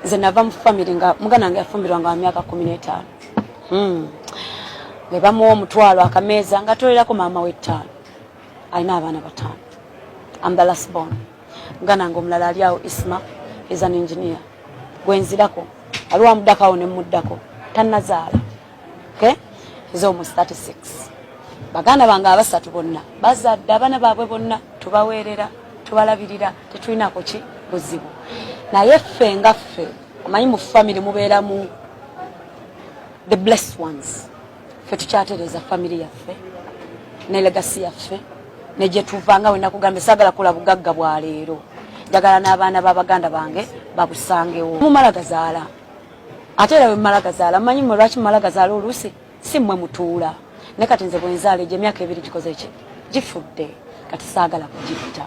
nze nava mu famire nga muganda wange yafumbirwa nga wamyaka kumi n'etaano hmm. bwe bamuwa omutwalo akameeza nga tolerako maama w'ettaano alina abaana bataano amdalasbon muganda wange omulala ali awo isma is an engineer gwenzirako aliwo amuddako awo ne muddako tannazaala okay is almost 36 baganda bange abasatu bonna bazadde abana baabwe bonna tubaweerera tubalabirira tetulinako ki buzibu naye ffe nga ffe omanyi mu family mubeeramu the blessed ones ffe tukyatereeza family yaffe ne legasi yaffe ne gye tuva nga wena kugambye sagala kula bugagga bwa leero njagala n'abaana b'abaganda bange babusangewo mumala gazaala ate era wemala gazaala mumanyi mwe lwaki mumala gazaala oluusi si mmwe mutuula naye kati nze bwenzaala egyo emyaka ebiri gikoze ki gifudde kati saagala kugitta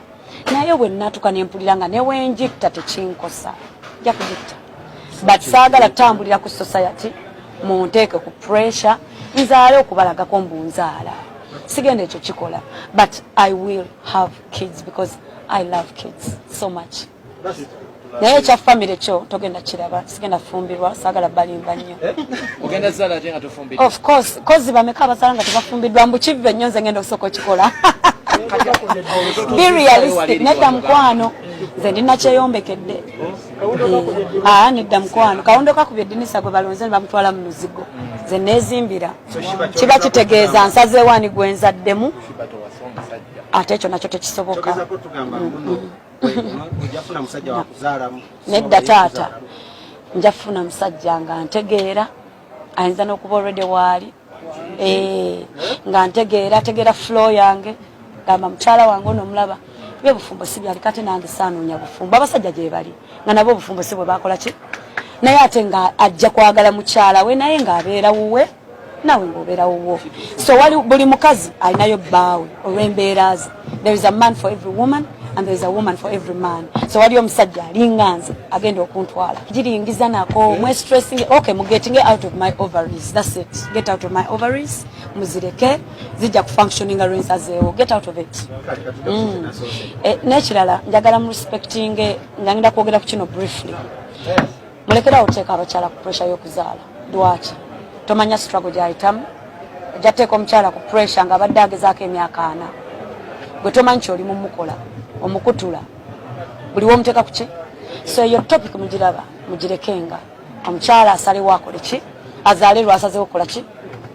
naye bwe natuka ne mpulira nga ne wengitta tekinkosa nja kugitta but saagala kutambulira ku society munteeke ku pressure nzaale okubalagako mbu nzaala sigenda ekyo kikola but i will have kids because i love kids so much naye ekya famire kyo togenda kiraba sigenda fumbirwa sagala balimba nnyo eh? of course kozi bameka abasala nga tebafumbiddwa mbu kivve nnyo nze ngenda okusooka okikola be realistic nedda mukwano nze ndi nakyeyombekedde eh, aa ah, nedda mukwano kawundo kakubye dinisa gwe balonze ne bamutwala mu luzigo nze nezimbira kiba kitegeeza nsazeewaani gwenzaddemu ate ekyo nakyo tekisoboka nedda taata nja funa musajja nga ntegeera ayinza n'okuba olwedde waali eh, nga ntegeera ategeera flo yange gamba mukyala wange ono omulaba bye bufumbo si byali kati nange saanoonya bufumbo abasajja gye bali nga nabo obufumbo si bwe bakola ki naye ate nga ajja kwagala mukyala we naye ng'abeera wuwe nawe ngobeera wuwo so wali buli mukazi alinayo bbaawe olw'embeera ze there is a man for every woman and there is a woman for every man so wali omusajja alinga nze agenda okuntwala giringiza nako mwe stressing okay mu getting out of my ovaries that's it get out of my ovaries muzireke zijja kufunctioninga lwensazeewo get out of it mm. eh, nekirala njagala mu respecting nga ngenda kwogera ku kino briefly mulekerawo oteeka abakyala ku puresha y'okuzaala lwaki tomanya struggle gyayitamu ajja teeka omukyala ku puresha nga abadde agezaako emyaka ana gwe tomanyi kyoli mumukola omukutula buli womuteeka kuki so eyo topic mugiraba mugirekenga omukyala asalewo akole ki azaale lwasazewo kukola ki